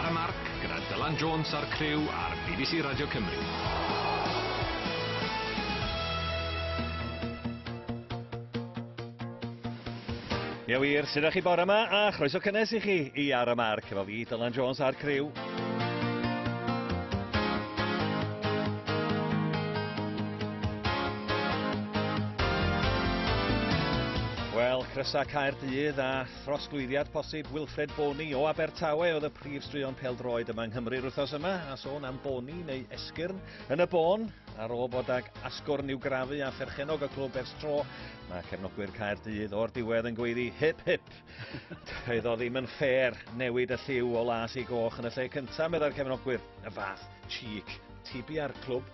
Ar y Marc gyda Dylan Jones a'r criw ar bbc Radio Cymru. Ie wir, sydd â chi bore yma a chroeso cynnes i chi i Ar y Marc efo fi, Dylan Jones a'r criw. Wel, Crysa Caerdydd a Trosglwyddiad posib Wilfred Bony o Abertawe oedd y prif straeon pêl-droed yma yng Nghymru'r wythnos yma, a sôn am Bony neu Esgyrn yn y bôn, ar ôl bod ag asgwrn i'w grafu a pherchenog y clwb ers tro, mae cefnogwyr Caerdydd o'r diwedd yn gweiddi hip hip. Doedd o ddim yn ffair newid y lliw o las i goch yn y lle cyntaf, meddai'r cefnogwyr, y fath cheek tibi ar clwb.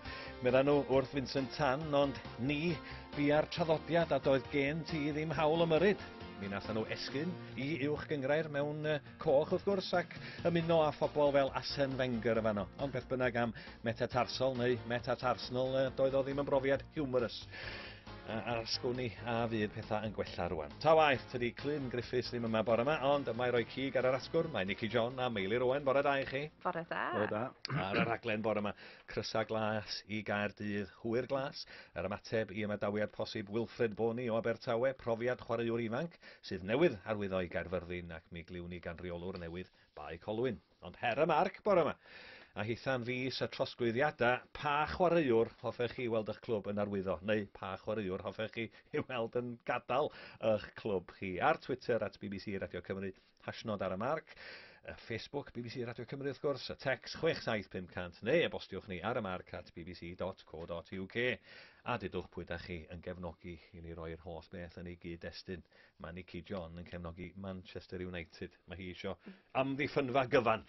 Medda nhw wrth Vincent Tan, ond ni, bu ar traddodiad a doedd gen ti ddim hawl ymyrryd. Mi nathon nhw esgyn i uwch gyngrair mewn uh, coch wrth gwrs ac ymuno â phobl fel Asen Wenger yn fanno. Ond beth bynnag am metatarsol neu metatarsnol uh, doedd o ddim yn brofiad humorous a a'r sgwni a fydd pethau yn gwella rwan. Ta waeth, tydi Clun Griffiths ddim yma bore yma, ond mae roi cig ar yr asgwrn, mae Nicky John a Meili Rowan, bore da i chi. Bore da. Bore da. Ar y rhaglen bore yma, Crysau Glas i Gaerdydd, Hwyr Glas, yr ymateb i ymadawiad posib Wilfred Bony o Abertawe, profiad chwaraewr ifanc sydd newydd arwyddo i Gaerfyrddin ac mi gliwn ni gan reolwr newydd Bae Colwyn. Ond her y marc bore yma. A hitha'n fis y trosglwyddiadau, pa chwaraewr hoffech chi weld eich clwb yn arwyddo, neu pa chwaraewr hoffech chi ei weld yn gadael eich clwb chi? Ar Twitter at bbc Radio Cymru, Hashnod ar y Marc, y Facebook bbc Radio Cymru wrth gwrs, y tecs 67500 neu e-bostiwch ni ar y marc at bbc.co.uk a dudwch pwy da chi yn gefnogi i ni roi'r holl beth yn ei gyd-destun. Mae Nicky John yn cefnogi Manchester United. Mae hi eisiau amddiffynfa gyfan.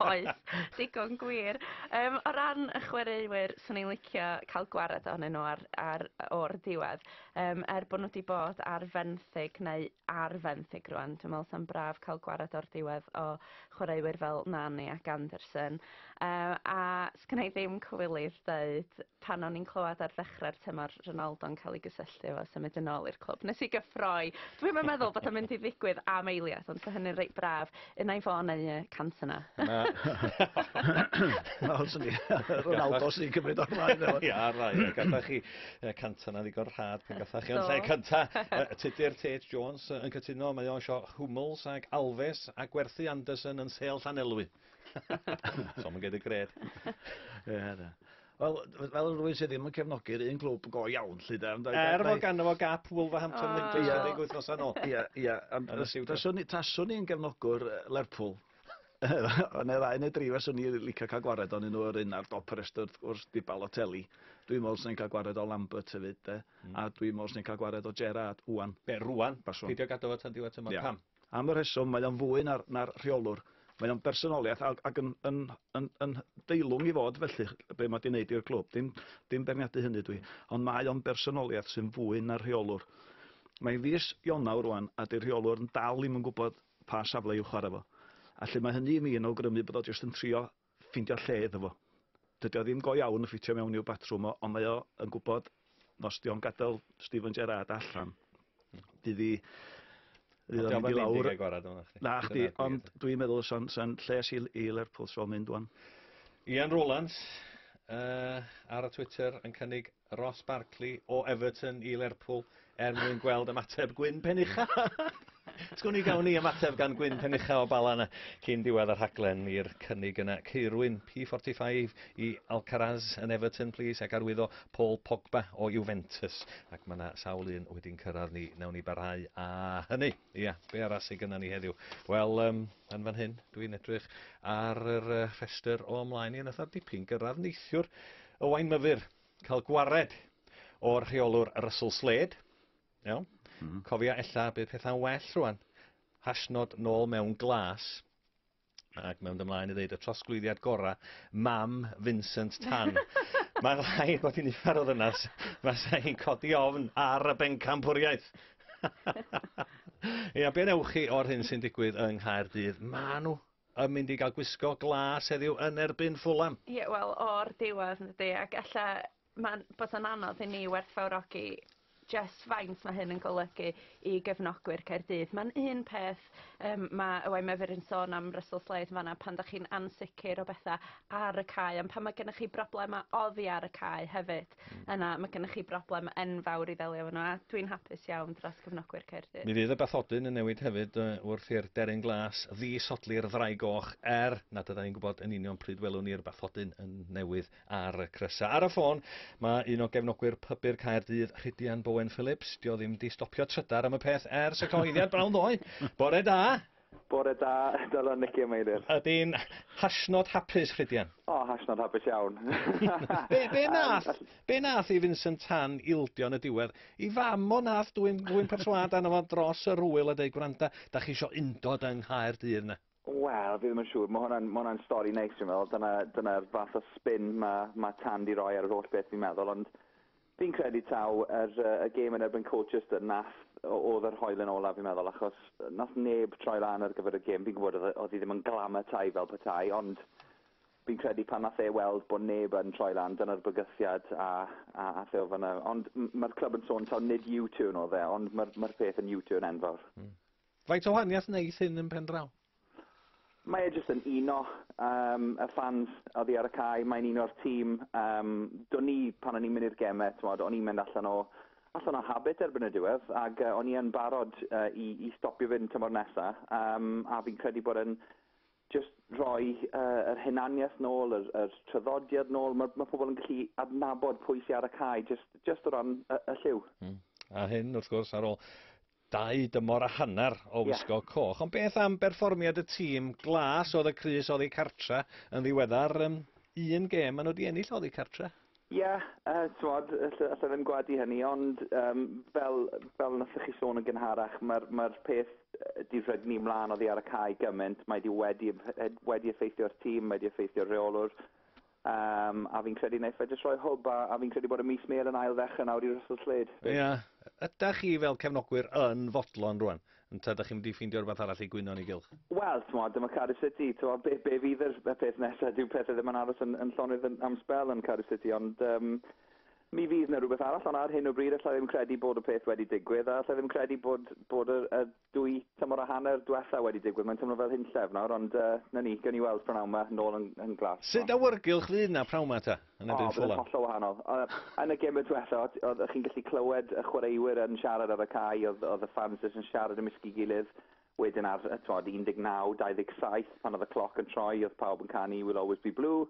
Oes, digon gwir. Um, o ran y chwaraewyr, swn i'n licio cael gwared ohonyn nhw ar, ar, o'r diwedd. Um, er bod nhw wedi bod ar fenthyg neu ar fenthyg rwan. Dwi'n meddwl sa'n braf cael gwared o'r diwedd o chwaraewyr fel Nani ac Anderson. Uh, a sgynna i ddim cywilydd dweud pan o'n i'n clywed ar ddechrau'r tymor Ronaldo'n cael ei gysylltu efo symud yn ôl i'r clwb. Nes i gyffroi. Dwi'n meddwl bod o'n mynd i ddigwydd am eiliad, ond mae hynny'n reit braf. Yn ei ffôn neu y cant yna. Na. Wel, swn i, Ronaldo sy'n cymryd o'r blaen efo. Ia, rai, gadda chi y cant yna ddigon rhad pan gatha chi. Ond lle cynta, tudur Tate Jones yn cytuno, mae o'n sio Hummels ac Alves a gwerthu Anderson yn sêl Llanelwy. Som yn gyd y gred. Ia, da. Wel, fel rhywun sydd ddim yn cefnogi'r un clwb go iawn, lly de. Ond, er fod ganddo fo gap Wolverhampton oh. Nicholas yeah. deg wythnos yn ôl. Ie, ie. Taswn i'n gefnogwr Lerpwl. Ond neu ddau neu dri faswn i'n licio cael gwared o'n nhw yr un ar dop y restr wrth gwrs di Balotelli. Dwi'n meddwl sy'n cael gwared o Lambert hefyd de. Mm. A dwi'n meddwl sy'n cael gwared o Gerard, Wan. Be, rwan? Baswn. Pidio gadw fo tan diwedd tymor. Yeah. Pam? Am y rheswm, mae o'n fwy na'r na'r rheolwr. Mae o'n bersonoliaeth ag ag yn yn yn yn deilwng i fod felly, be' ma' 'di neud i'r clwb. Dim dim beirniadu hynny dwi. Ond mae o'n bersonoliaeth sy'n fwy na'r rheolwr. Mae fis Ionawr rwan a 'di'r rheolwr yn dal 'im yn gwbod pa safle i'w chware fo. A 'lly mae hynny i mi yn awgrymu bod o jyst yn trio ffeindio lle iddo fo. Dydy o ddim go iawn yn ffitio mewn i'w batrwm o, ond mae o yn gwybod nos dio'n gadael Steven Gerrard allan. Fydd i... Fydd o'n mynd i lawr... Na, chdi, ond dwi'n meddwl sa'n sa lles i, i Lerpwl sy'n mynd o'n. Ian Rowlands uh, ar y Twitter yn cynnig Ross Barkley o Everton i Lerpwl er mwyn gweld ymateb Gwyn Penucha. Ti'n gwni gawn ni ymateb gan Gwyn Penucha o Bala yna cyn diwedd y rhaglen i'r cynnig yna. Ceirwyn P45 i Alcaraz yn Everton, please, ac arwyddo Paul Pogba o Juventus. Ac mae yna sawl un wedi'n cyrraedd ni. Newn ni barhau a hynny. Ia, be arall sydd gyda ni heddiw? Wel, um, yn fan hyn, dwi'n edrych ar yr rhestr o ymlaen i yn ytho'r dipyn gyrraedd neithiwr. Owain Myfyr, cael gwared o'r rheolwr Russell Slade. Iawn? Mm. Cofia, ella bydd pethau'n well rwan. Hashnod nôl mewn glas. Ac mewn ymlaen i ddeud y trosglwyddiad gorau, mam Vincent Tan. Mae'n rhaid bod hi'n uffar o ddynas. Mae sa'n hi'n codi ofn ar y bencampwriaeth. Ia, be wnewch chi o'r hyn sy'n digwydd yng Nghaerdydd? Mae nhw Yn mynd i gael gwisgo glas heddiw yn erbyn Fulham. Ie wel o'r diwedd yndydi ac ella ma'n bysa'n anodd i ni werthfawrogi jyst faint ma' hyn yn golygu i gefnogwyr Caerdydd. Ma'n un peth yym ma' Owain Mefur yn sôn am Russell Slade yn fan 'na pan 'dach chi'n ansicir o betha ar y cae on' pan ma' gennych chi broblema oddi ar y cae hefyd yna mae gennych chi broblem enfawr i ddelio efo nhw, a dwi'n hapus iawn dros gefnogwyr Caerdydd. Mi fydd y bathodyn yn newid hefyd wrth i'r deryn glas ddisodli'r ddraig goch, er nad ydan ni'n gwybod yn union pryd welwn ni'r bathodyn yn newydd ar y crysau. Ar y ffôn, mae un o gefnogwyr pybu'r Caerdydd, Rhidian Bowen Phillips. Dio ddim di stopio trydar am y peth ers y cyhoeddiad bron ddoe. Bore da! Bore da, Dylan, Nicky a Meilir. Ydyn hashnod hapus, Rhydian? O, hashnod hapus iawn. be, be nath, be nath i Vincent Tan ildio yn y diwedd? I fam o nath dwy'n dwy'n perswad arno fo dros yr hwyl a dweud, gwranda, da chi isio undod yng Nghaerdydd na? Wel, fi ddim yn siŵr. Mae hwnna'n ma hwnna stori neis, dwi'n meddwl. Dyna'r dyna fath o spin mae ma Tan di roi ar yr holl beth, fi'n meddwl. Ond Fi'n credu taw yr y gêm yn erbyn Colchester nath o- o'dd yr hoelen ola fi'n meddwl achos nath neb troi lan ar gyfer y gêm fi'n gwbod o'dd e o'dd 'i ddim yn glamatau fel petai ond fi'n credu pan nath e weld bo' neb yn troi lan dyna'r bygythiad a a ath e o fan 'na ond m- ma'r clwb yn sôn taw nid U-turn o'dd e ond ma'r ma'r peth yn U-turn enfawr. Hmm. Faint o wahaniath neith hyn yn pen draw? Mae e jyst yn uno yym y ffans oddi ar y cae, mae'n uno'r tîm. Yym, do'n ni, pan o'n i'n mynd i'r geme, t'mod, o'n i'n mynd allan o allan o habit erbyn y diwedd, ac uh, o'n i yn barod uh, i, i stopio fynd tymor nesa, um, a fi'n credu bod yn just rhoi uh, yr hunaniaeth nôl, yr, yr traddodiad nôl. Mae, mae pobl yn gallu adnabod pwy sy'n ar y cae, just, just o ran y, y lliw. Mm. A hyn, wrth gwrs, ar ôl Dau dymor a hanner o wisgo coch, ond beth am berfformiad y tîm? Glas oedd y crys oddi cartre yn ddiweddar, un gêm maen nhw wedi ennill oddi cartre. Ie, t'mod, alla i ddim gwadu hynny, ond fel nathoch chi sôn yn gynharach, mae'r peth 'di rhygnu mlaen oddi ar y cae gymaint, mae 'di wedi effeithio ar tîm, mae 'di effeithio ar reolwr, Yym, a fi'n credu wneith fe jyst rhoi hwb, a, a fi'n credu bod y mis mêl yn ail-ddechrau nawr i Russell Slade. Ie. Ie. Ydach chi fel cefnogwyr yn fodlon rwan? Ynte, ydach chi'n mynd i ffeindio rhywbeth arall i gwyno yn ei gylch? Wel, t'mod, dyma Cardiff City, t'mod, be, be fydd yr, y peth nesa? Dyw pethe ddim yn aros yn, yn llonydd yn, am sbel yn Cardiff City, ond yym, mi fydd 'na rhywbeth arall, ond ar hyn o bryd alla i ddim credu bod y peth wedi digwydd, a alla i ddim credu bod, bod y, y, Dwy tymor a hanner dwetha wedi digwydd, mae'n teimlo fel hunllef nawr, ond yy, 'na ni, gewn ni weld p'nawn 'ma, nôl yn yn glas. Sut awyrgylch fu 'na p'nawn 'ma ta, yn erbyn Fulham? O, bydd e'n hollol wahanol. Yn y gêm dwetha, o't o'ch chi'n gallu clywed y chwaraewyr yn siarad ar y cae, o'dd o'dd y ffans jyst yn siarad ymysg'i gilydd. Wedyn ar, t'mod, 19, 27, pan o'dd y cloc yn troi, o'dd pawb yn canu 'We'll always be blue'.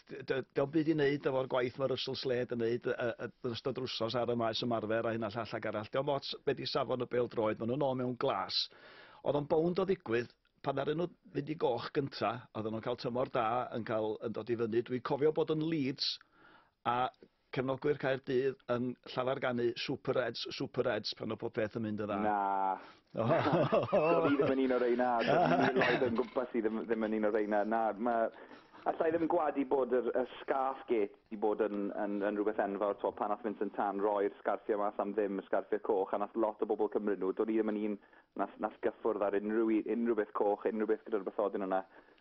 Diolch byd i wneud efo'r gwaith mae Russell Slade yn wneud yn ystod rwsos ar y maes ymarfer a hyn a llall ac arall. Diolch mots beth i safon y bel droed, maen nhw'n ôl mewn glas. Oedd o'n bownd o ddigwydd, pan ar nhw fynd i goch gynta, oedd nhw'n cael tymor da, yn, cael, yn dod i fyny. Dwi'n cofio bod yn Leeds a Cefnogwyr Caerdydd yn llafar ganu Super Reds, Super Reds pan oedd popeth yn mynd yn dda. Na. Do'n i ddim yn un o reina. Do'n i miloedd yn gwmpas i ddim, ddim yn un o reina. Na, mae... Alla i ddim gwadu bod yr, y scarf gate wedi bod yn, yn, yn rhywbeth enfawr. Twa, pan nath Vincent Tan roi'r sgarffiau mas am ddim, y sgarffiau coch, a nath lot o bobl cymryd nhw. Do'n i ddim yn un nath, nath gyffwrdd ar unrhyw, unrhyw beth coch, unrhyw beth gyda'r bathodyn yna.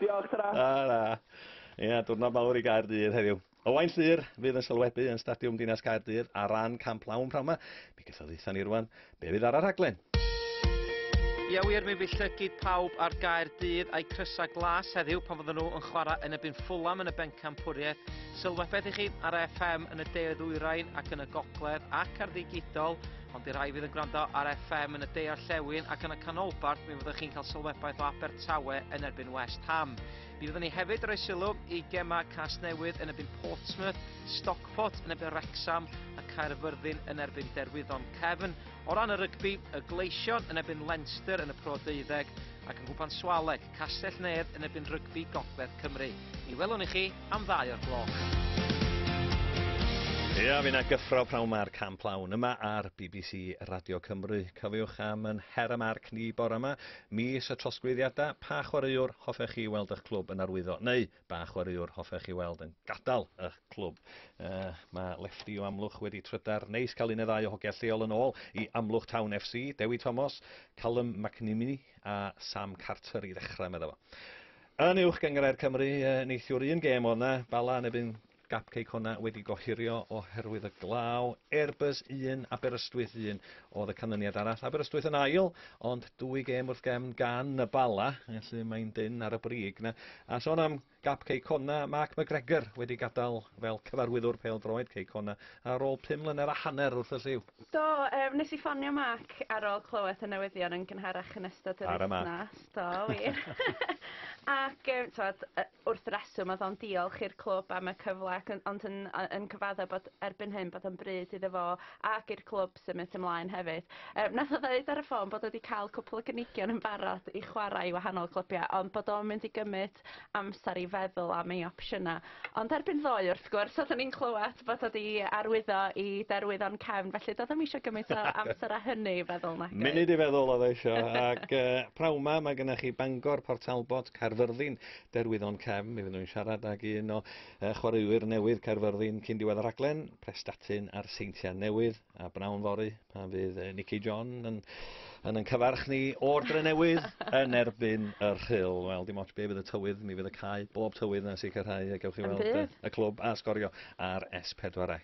Diolch, tara. Tara. Ia, diwrnod mawr i Gaerdydd heddiw. Owain Llyr fydd yn sylwebu yn Stadiwm Dinas Caerdydd ar ran Camp Lawn p'nawn 'ma. Mi geith o dditha ni rwan be' fydd ar y rhaglen. Ia wir, mi fydd llygid pawb ar Gaerdydd a'u crysau glas heddiw pan fyddan nhw yn chwarae yn ebyn Fulham yn y Bencampwriaeth. Sylwebaeth i chi ar FM yn y de-ddwyrain ac yn y gogledd ac ar ddigidol Ond i rai fydd yn gwrando ar FM yn y de orllewin ac yn y canolbarth, mi fyddwch chi'n cael sylwebaeth o Abertawe yn erbyn West Ham. Mi fyddwn ni hefyd roi sylw i gema Casnewydd yn erbyn Portsmouth, Stockport yn erbyn Wrexham a Caerfyrddin yn erbyn Derwyddon Cefn. O ran y rygbi, y Gleision yn erbyn Leinster yn y Pro Deuddeg ac yn gwpan Swaleg Castell-nedd yn erbyn Rygbi Gogledd Cymru. Mi welwn i chi am ddau o'r gloch. Ia, fi na gyffro prawn ma'r camp lawn yma ar bbc Radio Cymru. Cofiwch am yn her am arc ni bore yma, mis y trosglwyddiadau, pa chwaraewr hoffech chi weld eich clwb yn arwyddo, neu ba chwaraewr hoffech chi weld yn gadael y clwb? Uh, mae Lefty o Amlwch wedi trydar. Neis cael un neu ddau o hogia lleol yn ôl i Amlwch Town FC, Dewi Thomas, Callum McNimini a Sam Carter i ddechrau, meddwl fo. Yn uwch gyngrair Cymru, uh, neithiwr un gêm o'na, Bala yn ebyn Cupcake honna wedi gohirio oherwydd y glaw. Airbus 1, Aberystwyth 1 oedd y canlyniad arall. Aberystwyth yn ail, ond dwy gêm wrth gefn gan y Bala, felly mae'n dyn ar y brig na. A son am gap Ceicona, Mark McGregor wedi gadael fel cyfarwyddwr pel droed Ceicona ar ôl 5 mlynedd a hanner wrth y lliw. Do, yym nes i ffonio Mark ar ôl clywed y newyddion yn gynharach yn ystod yr Tara Mark. wythnos. Do wir. Ac yym t'mod yy wrth reswm odd o'n diolch i'r clwb am y cyfle ac yn ond yn yy yn cyfadde bod erbyn hyn bod o'n bryd iddo fo ac i'r clwb symud ymlaen hefyd. Yym nath o ddeud ar y ffôn bod o 'di ca'l cwpwl o gynigion yn barod i chwarae i wahanol clybiau ond bod o'n mynd i gymyd lot amser i feddwl am ei opsiyna. Ond erbyn ddoe wrth gwrs oeddwn i'n clywed bod o 'di arwyddo i derwydd o'n cefn felly doedd o'm isio gymaint o amser a hynny i feddwl nagoedd? Munud i feddwl oedd o isio ac yy praw 'ma mae gennych chi Bangor, Port Talbot, Caerfyrddin, derwydd o'n cefn. Mi fyddwn i'n siarad ag un o yy chwaraewyr newydd Caerfyrddin cyn diwedd y rhaglen, Prestatyn a'r Seintiau Newydd a b'nawn fory A bydd uh, Nicky John yn, yn yn cyfarch ni o'r dre newydd yn erbyn y rhyl. Wel, dim ots be fydd y tywydd, mi fydd y cae bob tywydd na sicrhau y gewch chi weld y, y clwb a sgorio ar S4C.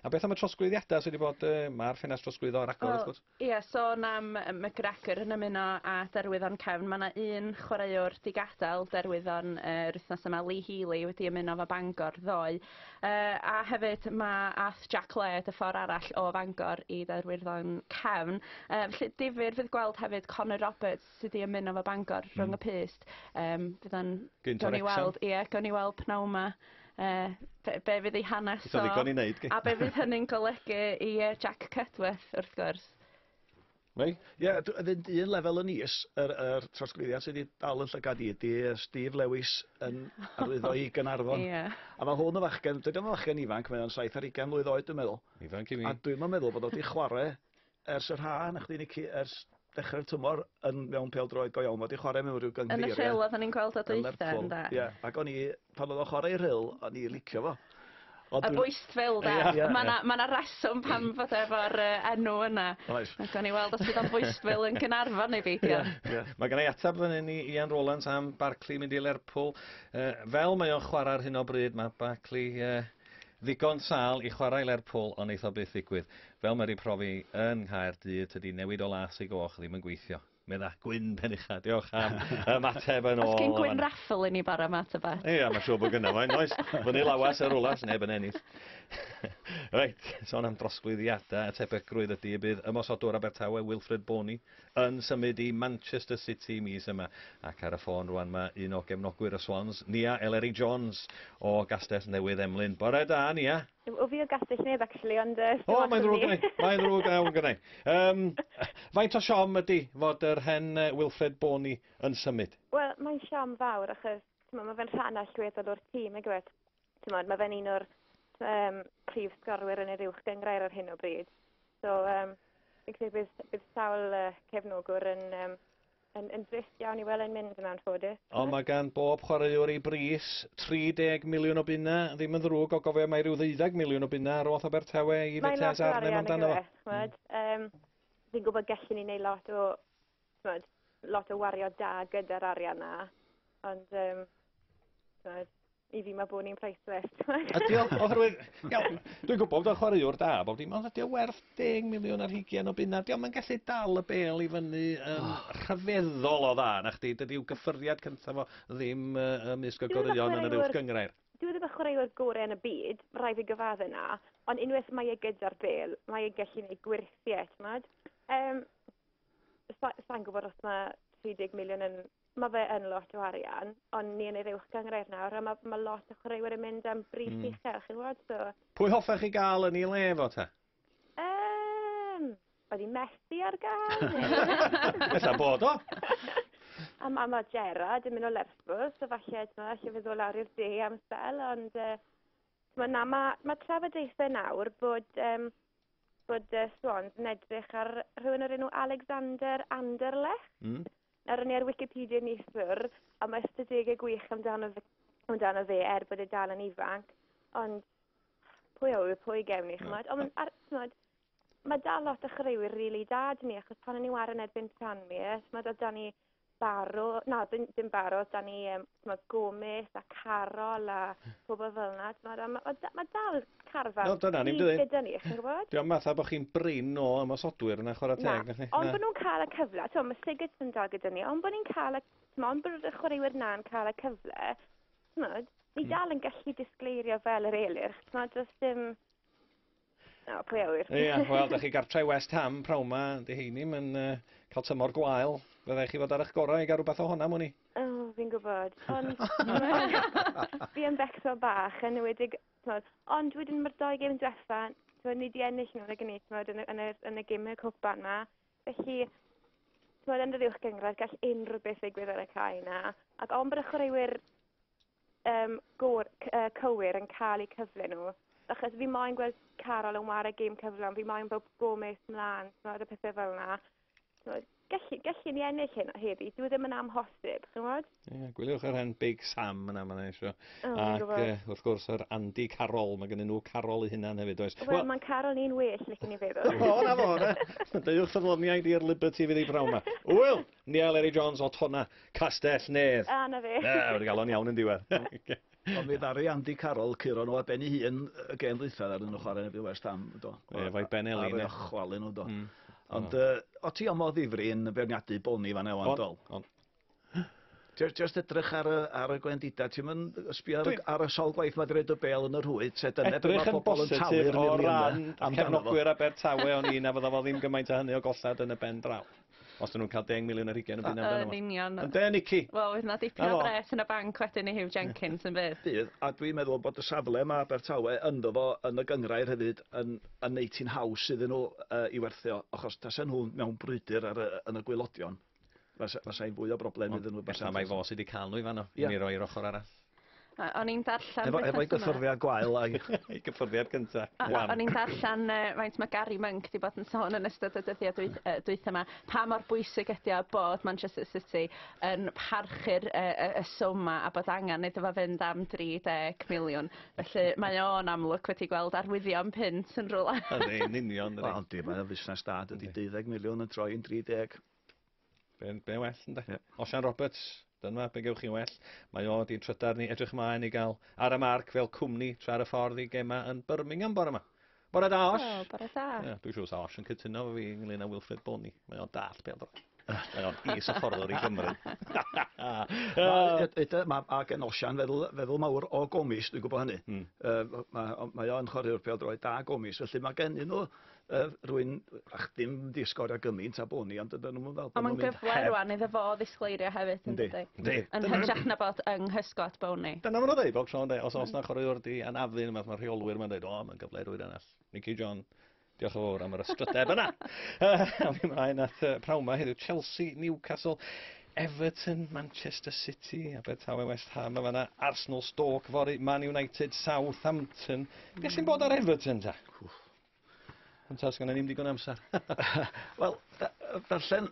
A beth am y trosglwyddiadau sydd wedi bod, uh, mae'r ffenast trosglwyddo ar agor, wrth gwrs? Ie, yeah, sôn am McGregor yn ymuno a derwyddon cefn, mae yna un chwaraewr digadael derwyddon uh, yr wythnos yma, Lee Healy, wedi ymuno fo Bangor ddoe. Yy a hefyd ma' ath Jac Led y ffor arall o Fangor i Dde'r Wyrdden Cefn yy felly difyr fydd gweld hefyd Connor Roberts sy 'di ymuno efo Bangor rhwng y pyst yym fydd o'n... Gynt o Wrecsam. ...gawn ni weld ie gawn ni weld pnawn 'ma yy be' be' fydd ei hanes o. Eto ddigon i neud. A be' fydd hynny'n golygu i yy Jac Cudworth wrth gwrs. Neu? Ie, dw- yn fynd un lefel yn is, yr yr trosglwyddiad sydd 'di dal 'yn llygad i ydi yy Steve Lewis yn arwyddo i Gaernarfon. Ie. A ma' hwn yn fachgen, dydi o'm yn fachgen ifanc, mae o'n saith ar ugain mlwydd oed dwi'n meddwl. Ifanc i mi. A dwi'm yn meddwl bod o 'di chware ers yr ha', na chdi Nici, ers dechre'r tymor yn mewn pêl-droed go iawn. Ma' 'di chware mewn ryw gynghreirie... Yn y lle ola 'dan ni'n gweld o dwytha ynde? Yn Lerpwl, ie. Ag o'n i Pan oedd o'n chwarae rhyl, o'n i'n licio fo. Ond y bwyst fel da. Ie, ie, Mae yna ma reswm pam fod efo'r uh, enw yna. Oes. Ac o'n i weld os bydd o'n bwyst fel yn Gynarfon neu beidio. Yeah. Mae gen i atab fan hyn i Ian Rowlands am Barclay mynd i Lerpwl. Uh, fel mae o'n chwarae ar hyn o bryd, mae Barclay uh, ddigon sal i chwarae Lerpwl ond eitho byth ddigwydd. Fel mae wedi profi yn Nghaerdydd, tydi newid o las i goch ddim yn gweithio. Mae yna gwyn pen ucha. Diolch am y mateb yn ôl. Os gen gwyn raffl i ni bara mat o beth. Ia, mae siw bod gynnaf mae'n oes. Fyny lawas ar rwlas, neb yn ennill. Reit, son am drosglwyddiadau a tebygrwydd ydy y bydd ymosodwr Abertawe Wilfred Bony yn symud i Manchester City mis yma. Ac ar y ffôn rwan mae un o gefnogwyr y Swans, Nia Eleri Jones o Gastell Newydd Emlyn. Bore da, Nia! Yw yw fi o Gastell Nedd actually ond yy sdim ots am fi. O mae'n ddrwg gennai, mae'n ddrwg iawn gennai. Yym faint o siom ydi fod yr hen Wilfred Boney yn symud? Wel mae'n siom fawr achos t'mod ma' fe'n rhan allweddol o'r tîm nag yw e? T'mod ma' fe'n un o'r yym prif sgorwyr yn yr uwch gynghrair ar hyn o bryd. So yym fi'n credu bydd bydd sawl yy cefnogwr yn yym Yn yn drist iawn i wel e'n mynd yn anffodus. Ond mae gan bob chwaraewr ei bris, 30 miliwn o bunna, ddim yn ddrwg o gofio mai rhyw ddeuddeg miliwn o bunna ar oll Abertawe i Vitesse Arnhem amdano fo. Ch'mod, yym, fi'n gwybod gellwn ni neud lot o, ch'mod, lot o wario da gyda'r arian 'na, ond yym, ch'mod, i fi mae bod ni'n priceless. Ydy o, oherwydd, iawn, dwi'n gwybod bod o'n chwaraewr da, bob dim, ond ydy o werth 10 miliwn ar hugian o bunna, ydy o'n gallu dal y bel i fyny yn oh. rhyfeddol o dda, na chdi, dydy yw gyffyriad cyntaf o ddim uh, ymysg o goreuon yn yr uwch gyngrair. Dwi'n ddim yn chwaraewr gorau yn y byd, rai fi gyfadde na, ond unwaith mae e gyda'r bel, mae e'n gallu gwneud gwirthiau, ti'n Um, Sa'n gwybod os mae 30 miliwn yn Mae fe yn lot o arian, ond ni yn yr uwch gyngref nawr, a mae, mae lot o chwaraewyr yn mynd am bris mm. uchel, chi'n gwybod, so... Pwy hoffech chi gael yn ei le fo te? Um, oedd i Messi ar gael? Ella bod o. a mae ma Gerard yn mynd o Lerpwl, so falle, ti'n allai fe ddod lawr i'r de am sel, ond... Uh, mae na, mae ma trafodaethau nawr bod, um, bod uh, Swans yn edrych ar rhywun o'r enw Alexander Anderlecht. Mm. Nawr o'n i ar Wikipedia neithiwr, a mae ystadegau gwych amdano fe, amdano fe er bod e dal yn ifanc, ond pwy a ŵyr pwy gewn ni, chymod? Ond ar, chymod, mae dal lot o chwaraewyr rili really da dyn ni, achos pan o'n i'n warin erbyn Tranmere, chymod, oedd da ni Baro, na, ddim Baro, oedd da ni um, mae Gomes a Carol a hmm. pobl fel yna. Mae ma, ma, ma dal carfan no, dyna, ni'n dydy. gyda ni, chi'n gwybod? Diolch fatha bod chi'n brin o ymosodwyr yna chwarae teg. Na, ond bod nhw'n cael y cyfle, ti'n mae Sigurd yn dal gyda ni, ond bod ni'n cael y, ond bod y chwaraewyr na'n cael y cyfle, ti'n ni hmm. dal yn gallu disgleirio fel yr eilirch, ti'n dros dim O, pwy a ŵyr. Ia, wel, 'dach chi gartre i West Ham prawn 'ma, 'di heini 'm yn yy ca'l tymor gwael. Fe ddai chi fod ar 'ych gorau i ga'l rwbath o honam wn i. O, fi'n gwbod, ond fi yn Becsol bach, yn enwedig, t'mod, ond wedyn ma'r dou gêm dwetha, t'mod, ni 'di ennill nhw nag 'yn ni, t'mod, yn y yn yr yn y geme cwpan 'ma. Felly, t'mod, yn yr uwchgynghrair gall unrhyw beth ddigwydd ar y cae 'na, ac ond bod y chwaraewyr um, gor, uh, cywir yn cael eu cyfle nhw. Achos fi moyn gweld Carol yn wario gêm cyflawn, fi moyn bod Gomes mlaen, tmod, y pethau fel yna. Tmod, gallu, gallu ni ennill hyn o heddi, dwi e ddim yn amhosib, chi'n gwybod? Ie, yeah, gwyliwch yr hen Big Sam yna, mae'n eisiau. Oh, Ac uh, wrth gwrs, yr Andy Carol, mae gen nhw Carol i hynna'n hefyd, oes? Wel, well, mae'n Carol ni'n well, lle ni feddwl. o, na fo, na. Deuwch ffyddloniaid i'r Liberty fydd ei brawn yma. Wyl, Niall Ery Jones o Tonna, Castell Nedd. A, 'na fe. Na, wedi galw o'n iawn yn diwedd. Ond mi ddaru Andy Carroll curo nhw ar ben ei hun y gêm ddwythau ar nhw'n chwarae erbyn West Ham, do. Ie, fo'i ben Elin. Ar ei ochwalyn nhw, do. Mm. Ond uh, o ti o modd ddifri yn beirniadu Boni fan ewan, dol? On. Just edrych ar y, ar y gwendida, ti'n mynd sbio ar, ar y sol gwaith mae dweud y bel yn yr hwyd, se dyna beth mae pobl yn talu'r miliynau amdano fo. Edrych yn bositif o ran cefnogwyr Abertawe o'n un a fydda fo ddim gymaint o hynny o gollad yn y ben draw. Os dyn nhw'n cael 10 miliwn ar hugen yn byd amdano. Yn union. Yn den ici. Wel, oedd yna dipyn o bres yn y banc wedyn i Hugh Jenkins yn bydd. Bydd, a dwi'n meddwl bod y safle mae Abertawe ynddo fo yn y gyngrair hefyd yn, yn neud ti'n haws iddyn nhw uh, i werthio, achos tasen nhw mewn brwydr ar, uh, yn y gwylodion, fasai'n fwy o broblem iddyn nhw. Efallai mae fo sydd wedi cael nhw i fanno, yeah. i mi roi i'r ochr arall. O- O'n i'n darllen... Efo efo'i wythnos yma- gyffyrddiad gwael a'i ei gyffyrddiad cynta. O- o- Wan. O'n i'n darllen yy faint ma' Gary Monk 'di bod yn sôn yn ystod y dyddia' dwyth- yy dwytha 'ma pa mor bwysig ydi o bod Manchester City yn parchu'r yy y y swm 'ma a bod angan iddo fo fynd am 30 miliwn. Felly mae o'n amlwg wedi gweld arwyddion punt yn rwla. Ydi, yn union, ydi. Wel yndi, mae o'n fusnes da, dydi deuddeg miliwn yn troi yn dri deg. Be, be well, ynddo? Yeah. Osian Roberts, dyna be gewch chi well. Mae o di'n trydar ni edrych ymlaen i gael ar y marc fel cwmni tra ar y ffordd i gema yn Birmingham bore yma. Bore da, Osh. Oh, bore da. Yeah, dwi'n siŵr sa Osh yn cytuno fo fi ynglyn â Wilfred Boney. Mae o'n dall bel dro. Mae o'n is y fforddwr i Gymru. Mae a gen Osian feddwl, feddwl mawr o gomis, dwi'n gwybod hynny. Mm. Uh, mae, mae o'n chwaraewr pêl droed da gomis, felly mae gen nhw yy rwy'n ach dim di sgorio gymaint a bo ni ond ydyn nhw'n fel Ond mae'n gyfle rwan iddo fo ddisgleirio hefyd yn dydy? Yndi. Yn hytrach na bod yng nghysgod bown ni. Dyna ma' nhw'n ddeud bob tro ynde os o's na chwaraewr di anafu ne' wbath ma' rheolwyr ma'n deud o ma'n gyfle i rywun arall. Mickey John. Diolch yn fowr am yr ysgryteb yna. Awn ni mlaen at yy prawn 'ma heddiw Chelsea, Newcastle, Everton, Manchester City, Abertawe West Ham yn fanna, Arsenal, Stoke fory, Man United, Southampton. Beth sy'n bod ar Everton ta? Ond tas gan ddim digon amser. Wel, darllen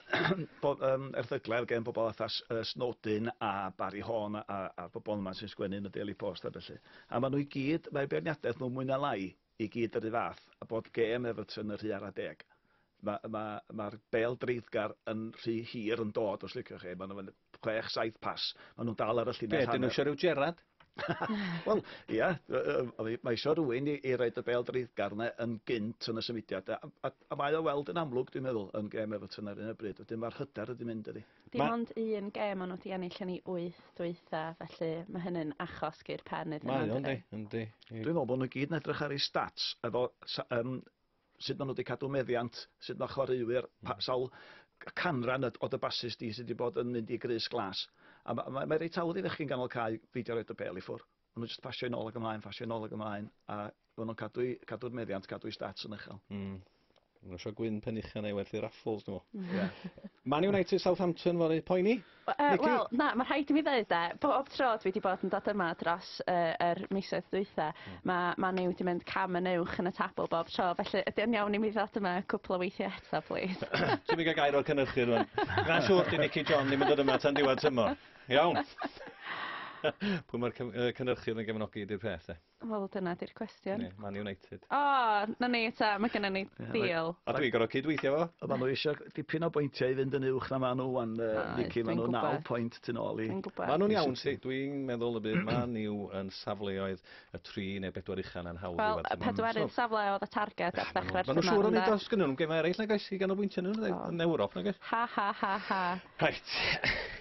bod, um, erthyglau gen bobl atha uh, Snowdin a Barry Horn a, a bobl yma sy'n sgwennu yn y Daily Post a felly. A maen nhw i gyd, mae beirniadaeth nhw mwy na lai i gyd yr un fath, a bod gêm Everton y rhy ar a deg. Mae'r ma, ma, ma bel dreiddgar yn rhy hir yn dod, os liciwch chi. Maen nhw'n chwech, saith pas. Maen nhw'n dal ar y llinell hanner. Be, dyn nhw eisiau rhyw Gerard? Wel, ia, mae eisiau rhywun i, i roed y bel dreiddgar yna yn gynt yn y symudiad. A, a, a mae o weld yn amlwg, dwi'n meddwl, yn gem Everton ar un o bryd. Wedyn mae'r hyder ydi mynd ydi. Dim ma... ond un gem ond wedi ennill yn ei wyth dweitha, felly mae hynny'n achos gyr pen iddyn nhw. Mae o'n di, yndi. Dwi'n meddwl bod nhw'n gyd yn edrych ar ei stats efo um, sut maen nhw wedi cadw meddiant, sut mae chwaraewyr, pa, hmm. sawl canran o dy basus di sydd wedi bod yn mynd i grys glas. A mae, mae, mae reit awr i ddechrau'n ganol cael feidio roed y bel i ffwr. Mae nhw'n just pasio'n ôl ag ymlaen, pasio'n ôl ag ymlaen, a mae nhw'n cadw'r cadw meddiant, cadw'r stats yn uchel. Mm. Mae'n eisiau gwyn pen uchan ei werthu raffles, dwi'n meddwl. Yeah. Man United Southampton fory, poeni? Yy wel na ma' rhaid i mi ddeud 'de bob tro dwi 'di bod yn dod yma dros yy yr misoedd dwitha ma' ma' Miw 'di mynd cam yn uwch yn y tabl bob tro felly ydi o'n iawn i mi ddod yma cwpwl o weithie eto plîs? Ti'm yn ga'l gair o'r cynyrchydd rŵan. Na siŵr 'di Nici John ddim yn dod yma tan diwadd tymor. Iawn. Pwy ma'r cy- yy cynyrchydd yn gefnogi 'di'r peth 'de. Wel dyna 'di'r cwestiwn. Ie Man United. O! 'Na ni 'ta ma' gynnon ni deal. A dwi'n gor'o' cyd-weithio efo fo. A ma' n'w isio dipyn o bwyntia i fynd yn uwch na ma' n'w ŵan yy Mici ma' n'w naw point tu nôl i... Dwi'n gwbo. Ma' nw'n iawn City dwi'n meddwl y bydd Man U yn safleoedd y tri neu bedwar ucha 'na'n hawdd i werthu. Wel y pedwerydd safle o'dd y targed ar ddechre'r tymor ynde? Ma' n'w siŵr o neud o os gynnyn n'w gemau ereill nag oes i ganolbwyntio arnyn n'w yn Ewrop nag oes? Ha ha ha ha. Reit.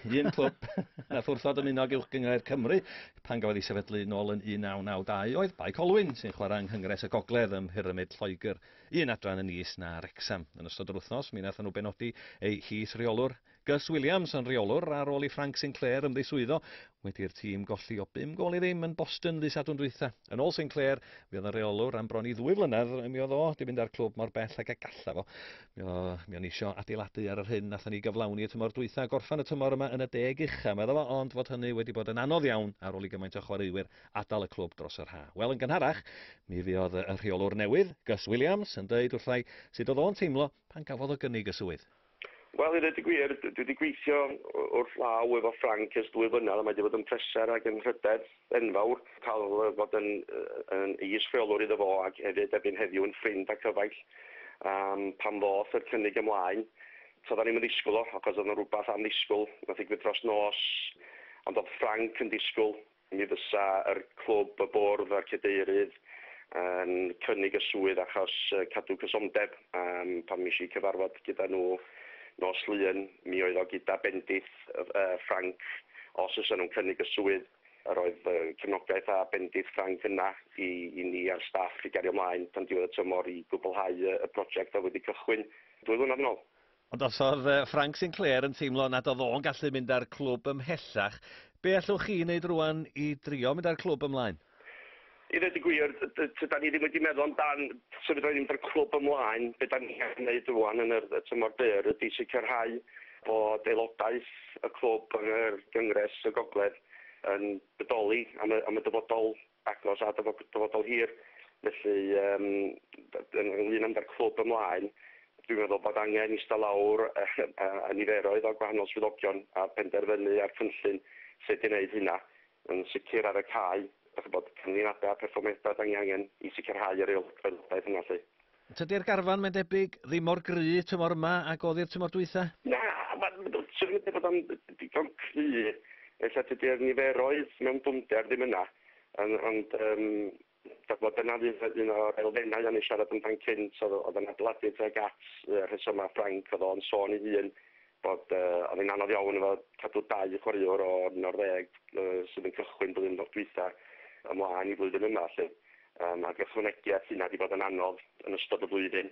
Un clwb nath wrthod ymuno ag Uwchgynghrair Cymru Pan gafodd ei sefydlu'n ôl yn 1992, oedd Bae Colwyn, sy'n chwarae yng Nghyngres y Gogledd ym Mhyrymid Lloegr, un adran yn is na Wrecsam. Yn ystod yr wythnos, mi wnaethon nhw benodi eu his-reolwr, Gus Williams, yn reolwr ar ôl i Frank Sinclair ymddiswyddo wedi i'r tîm golli o bum gôl i ddim yn Boston ddydd Sadwrn dwytha. Yn ôl Sinclair, fuodd yn reolwr am bron i ddwy flynedd, mi oedd o 'di mynd â'r clwb mor bell ag y gallaf o. Mi o'n i isio adeiladu ar yr hyn nathon ni gyflawni y tymor dwytha a gorffan y tymor yma yn y deg ucha, medda fo, ond fod hynny wedi bod yn anodd iawn ar ôl i gymaint o chwaraewyr adal y clwb dros yr ha. Wel, yn gynharach, mi fuodd y rheolwr newydd, Gus Williams, yn deud wrthai sut oedd o'n teimlo pan gafodd o gynnig y swydd. Wel, i ddeud y gwir, dwi wedi gweithio wrth law efo Frank ers dwy flynedd a mae wedi bod yn pleser ac yn rhydedd. enfawr cael bod yn yn is rheolwr iddo fo ac hefyd erbyn heddiw yn ffrind a cyfaill um, pan ddoth yr cynnig ymlaen so da ni'n mynd ddisgwyl o achos oedd yna rhywbeth am ddisgwyl nath ddigwydd dros nos ond oedd Frank yn disgwyl mi fysa yr clwb y bwrdd a'r cedeirydd yn cynnig y swydd achos cadw cysondeb um, pan mis i cyfarfod gyda nhw nos lun mi oedd o gyda bendith Ffrainc os fysa nhw'n cynnig y swydd. Yr oedd fy nghefnogaeth a bendith Ffrainc yna i i ni a'r staff i gario mlaen tan diwedd y tymor i gwblhau y y project oedd wedi cychwyn dwy flynedd yn ôl. Ond os oedd Ffrainc Sinclair yn teimlo nad oedd o'n gallu mynd â'r clwb ymhellach, be' allwch chi 'i neud rŵan i drio mynd â'r clwb ymlaen? I ddweud y gwir, tydan ni ddim wedi meddwl amdan sut fydda ni'n mynd â'r clwb ymlaen. Be dan ni'n gallu neud rŵan yn yr tymor byr ydi sicrhau bod aelodaeth y clwb yn yr Gyngres y Gogledd yn bodoli am y am y dyfodol agos a dyfodol hir. Felly yym ynglŷn â â'r clwb ymlaen, dwi'n meddwl bod angen ista lawr a niferoedd o gwahanol swyddogion a penderfynu ar cynllun sut i wneud hynna. Yn sicr ar y cae, dach chi'n gwybod, canlyniadau a pherfformiadau dan ni angen i sicrhau yr aelwydodaeth yna 'lly. Tydi'r garfan, mae'n debyg, ddim mor gry tymor yma ag oedd hi'r tymor dwytha? Na, mae'n swn i'n medru bod o'n ddigon cry, ella tydi'r niferoedd mewn dwfnder ddim yna, ond yym Dw bod dyna fydd un o'r elfennau o'n i'n siarad amdan cynt oedd oedd yn adeiladu tuag at y rhesymau Ffrainc oedd o'n sôn ei hun bod uh, oedd hi'n anodd iawn efo cadw dau chwaraewr o un o'r ddeg uh, sydd yn cychwyn blwyddyn o'r dwytha ymlaen i flwyddyn yma lle. Um, ac ychwanegu at hynna wedi bod yn anodd yn ystod y flwyddyn.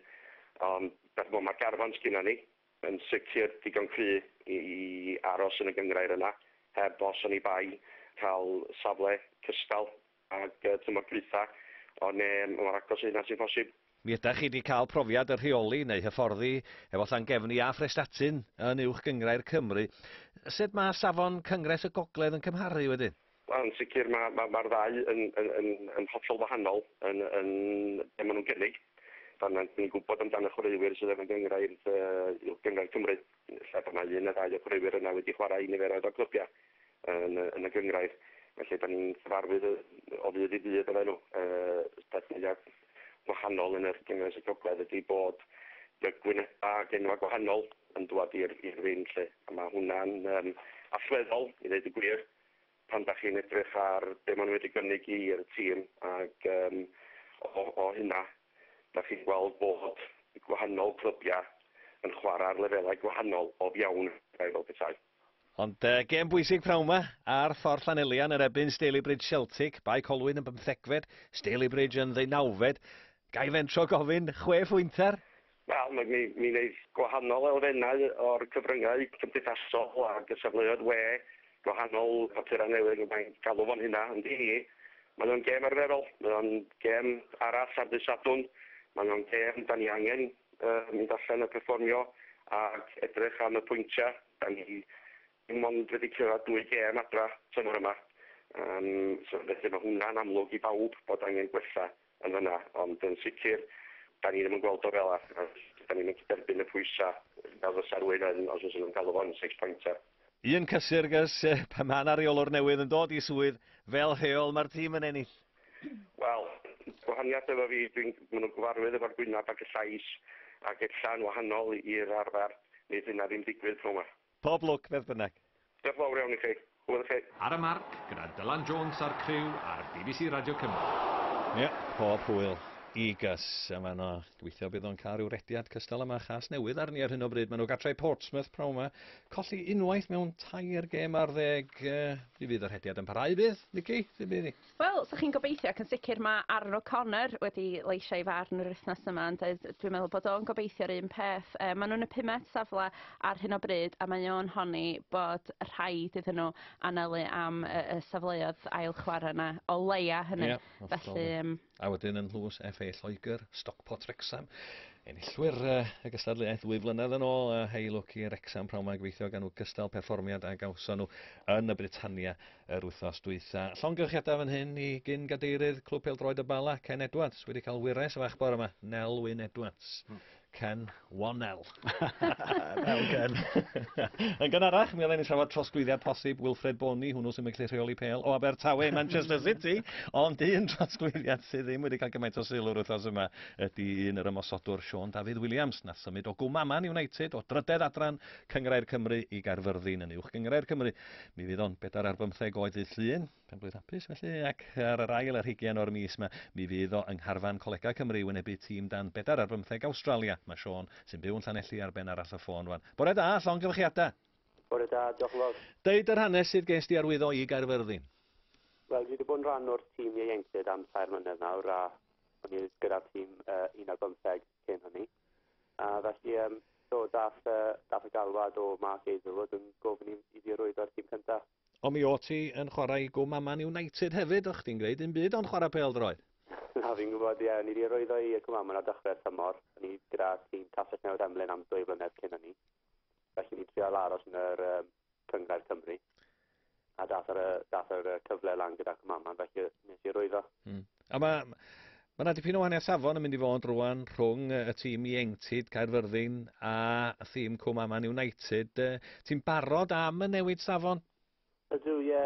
Ond beth mae'r garfan sgynna ni yn sicr digon cry i, i aros yn y gyngrair yna heb os o'n i bai cael safle cystal Ag y tymor dwytha, o ne mor agos i hynna sy'n posib. Mi ydach chi di cael profiad y rheoli neu hyfforddi efo Llangefni a Phrestatyn yn Uwch Gynghrair Cymru. Sut mae safon Cyngres y Gogledd yn cymharu wedyn? Wel yn sicr mae ma mae'r ddau yn yn yn yn hollol wahanol yn yn be maen nhw'n gynnig. Fan'na ni'n gwybod amdan y chwaraewyr sydd yn y gynghrair yy Uwch Gynghrair Cymru. Lle bod 'na un neu ddau o chwaraewyr yna wedi chwarae i niferoedd o glybiau yn yn y gynghrair, felly 'dan ni'n cyfarwydd o ddydd i ddydd efo nhw. Y peth mwya' gwahanol yn yr Gynghrair Sir Gogledd ydi bod gwyneba' ac enwa' gwahanol yn dŵad i'r i'r ring 'lly, a ma' hwnna'n yym allweddol i ddeud y gwir. Pan dach chi'n edrych ar be maen nhw wedi gynnig i'r tîm ac yym o o hynna dach chi'n gweld bod gwahanol clybiau yn chwarae ar lefelau gwahanol o fiawn fel petai. Ond yy gêm bwysig pnawn ma ar Ffordd Llanelian yn ebyn Stalybridge Celtic, Bae Colwyn yn bymthegfed, Stalybridge yn ddeunawfed. Ga i fentro gofyn, chwe phwynter? Wel, mi mi mi wneith gwahanol elfennau o'r cyfryngau cymdeithasol ac y safleoedd we, gwahanol papurau newydd, fel mae'n galw fo'n hynna, ond i ni, mae o'n gêm arferol, mae o'n gêm arall ar ddydd Sadwrn, mae o'n gêm 'da ni angen yy mynd allan a perfformio ac edrych am y pwyntiau, 'da ni dim ond wedi cyrraedd dwy gêm adra tymor yma, yym so felly mae hwnna'n amlwg i bawb bod angen gwella yn fan'na, ond yn sicr, 'dan ni ddim yn gweld o fela, a 'dan ni'm yn gallu derbyn y pwysa' fel fysa rywun yn, os fyswn nhw'n galw fo'n six pointer. Yn Caergrawnt, pan ma' 'na reolwr newydd yn dod i swydd, fel rheol ma'r tîm yn ennill. Wel, gwahaniath efo fi, dwi'n, ma' nhw'n gyfarwydd efo'r gwynab ac y llais, ac ella'n wahanol i'r arfer, neith hynna ddim digwydd pnawn 'ma. Pob lwc beth bynnag. Diolch fawr iawn i chi. Hwyl i chi. Ar y Marc gyda Dylan Jones a'r criw ar bbc Radio Cymru. Ie, pob hwyl i Gus yn fan 'no. Gobeithio bydd o'n cael rhyw rediad cystal â ma Chasnewydd arni ar hyn o bryd. Maen nhw gartre i Portsmouth pnawn 'ma. Colli unwaith mewn tair gêm ar ddeg. Yy, pryd fydd y rhediad yn parhau bydd, Nicky? Pryd bydd hi? Wel, so chi'n gobeithio, ac yn sicr mae Aaron O'Connor wedi leisio ei farn yr wythnos yma, ond yy d- dwi'n meddwl bod o'n gobeithio'r un peth. Yy maen nhw'n y pumed safle ar hyn o bryd, a mae o'n honni bod rhaid iddyn nhw anelu am y, y safleoedd ail chwarae yna, o leia hynny. Ie, hollol. Felly, yym, A wedyn yn Lewis FA Lloegr, Stockport Wrexham. Enillwyr yy, y gystadleuaeth ddwy flynedd yn ôl, a hei lwc i Wrexham pnawn 'ma gobeithio gan nhw gystal perfformiad a gawson nhw yn y Britannia Yr wythnos dwytha, llongyfarchiadau fan hyn i gyn-gadeirydd Clwb Pêl-droed y Bala, Ken Edwards, wedi cael wyres fach bore yma, Nel Wyn Edwards. Hmm. Ken Wonel. Wel, Ken. Yn gynharach, mi oedden ni'n trafod trosglwyddiad posib Wilfred Boni, hwnnw sy'n mynd rheoli pêl o Abertawe i Manchester City, ond un trosglwyddiad sydd ddim wedi cael gymaint o sylw yr wythnos yma ydy un yr ymosodwr Sean David Williams, na symud o Gwmaman United o drydedd adran Cyngrair Cymru i Gaerfyrddin yn uwch Gyngrair Cymru. Mi fydd o'n bedair ar bymtheg oed ddydd Llun, pen blwydd hapus felly, ac ar yr ail ar hugen o'r mis yma, mi fydd o yng ngharfan Colegau Cymru i wynebu tîm dan bedair ar bymtheg Awstralia. Mae Sean, sy'n byw yn Llanelli, ar ben arall y ffôn rwan. Bore da, llongyfarchiadau! Bore da, diolch yn fawr. Deud yr hanes sydd ges di arwyddo i Gaerfyrddin. Wel, dwi wedi bod yn rhan o'r tîm ieuenctid am tair mlynedd nawr a o'n i gyda'r tîm uh, un ar bymtheg cyn hynny. A felly, um, do, dath, uh, dath y galwad o Mark Hazelwood yn gofyn i, i fi rwyddo'r tîm cyntaf. Ond mi o ti yn chwarae i gwm Aman United hefyd, o'ch ti'n gwneud un byd ond chwarae pel droed. Na, fi'n gwybod, ie, ni wedi rwyddo i Cwm Aman ar dechrau'r tymor. Ni gyda tîm Castell Newydd Emlyn am dwy flynedd cyn hynny. Felly ni'n trial aros yn yr um, cyngrair Cymru. A dath yr, dath yr cyfle lan gyda Cymaman, felly nes i rwyddo. Hmm. A mae Mae yna dipyn o wahaniaeth safon yn mynd i fod rwan rhwng y tîm ieuenctid Caerfyrddin a thîm Cwm Aman United. Ti'n barod am y newid safon? Ydw, ie.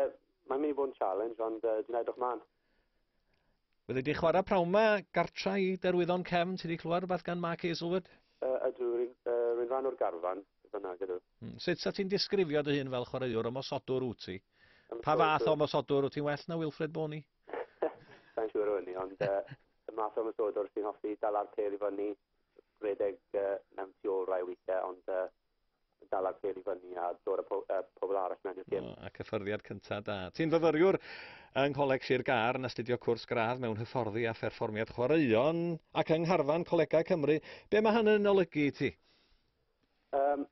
Mae'n mynd i bod yn challenge, ond uh, dwi'n edrych mlaen. Wedi di chwarae prawn ma, gartra i derwyddon cefn, ti wedi clywed rhywbeth gan Mark Hazelwood? Uh, ydw, rwy'n uh, rhan o'r garfan, fyna gyda. Hmm. Sut sa ti'n disgrifio dy hun fel chwaraewr ymosodwr wyt ti? Pa fath o ymosodwr wyt ti'n well na Wilfred Boney? Sa'n siŵr o hynny, ond uh, y math o ymosodwr sy'n hoffi dala'r pêl i fyny, rhedeg uh, mewn tu ôl rai weithiau, ond uh, dal ar ffeil i fyny a dod â po, uh, pobl arall mewn i'r gym. Oh, ac hyfforddiad cyntaf da. Ti'n fyfyriwr yng Ngholeg Sir Gar yn astudio cwrs gradd mewn hyfforddi a pherfformiad chwaraeon ac yng Ngharfan Colegau Cymru. Be mae hynny'n olygu i ti? Um,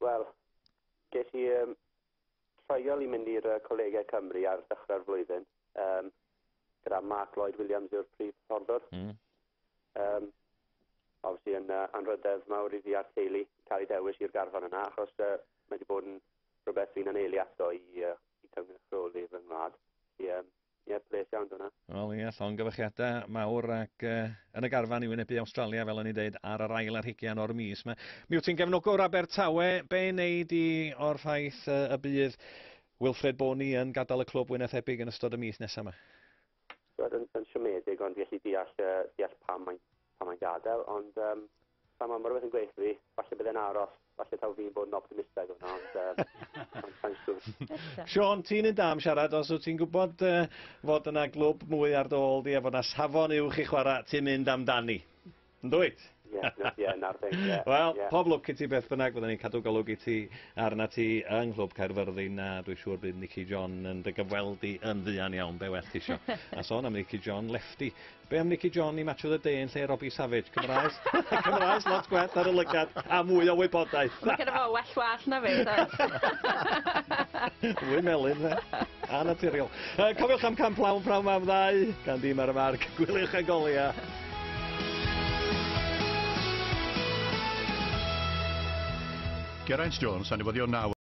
Wel, ges i um, treuol i mynd i'r Colegau Cymru ar ddechrau'r flwyddyn. Um, gyda Mark Lloyd Williams yw'r prif hyfforddwr. Mm. Yym, obviously yn uh, anrhydedd mawr i fi a'r teulu cael ei dewis i'r garfan yna, achos uh, mae wedi bod yn rhywbeth fi'n aneili ato i, uh, i cynrychioli fy ngwlad. Felly, um, ie, yeah, ples iawn dyna. Wel, ie, yeah, llongyfychiadau mawr ac uh, yn y garfan i wynebu Australia, fel o'n i'n deud, ar yr ail ar higian o'r mis. Mae, mi wyt ti'n gefnogwr Abertawe, be wneud i o'r ffaith uh, y bydd Wilfred Boney yn gadael y clwb wynethebig yn ystod y mis nesaf yma? Roedd yn, yn siomedig, ond fi allu deall, uh, deall pam mae'n pa mae gadael, ond um, pan mae rhywbeth yn gweithio fi, falle bydde'n aros, falle taw fi'n bod yn optimistaidd hwnna, ond um, mae'n siŵr. Sean, ti'n un da am siarad, os wyt ti'n gwybod uh, fod yna glwb mwy ar dy ôl di a fod yna safon uwch i chwarae, ti'n mynd amdani. Yndwyt? Ie, na, ie, na'r thing, ie. Wel, ie. pob lwc i ti beth bynnag, fydden ni'n cadw golwg i ti arna ti yng Nghlwb Caerfyrddin, a dwi siŵr bydd Nici John yn dy gyfweld di yn fuan iawn, be well tisio. A sôn am Nici John, lefty. Be am Nici John i Match of the Day yn lle Robbie Savage? Cymraes, Cymraes lot gwell ar y lygad a mwy o wybodaeth. Mae gen i fo well wallt na fi, does? Fwy melyn, fe? A naturiol. Uh, cofiwch am Camp Lawn prawn mam ddau, gan dîm ar y marc. Gwyliwch a golia. Geraint Jones, a newyddion naw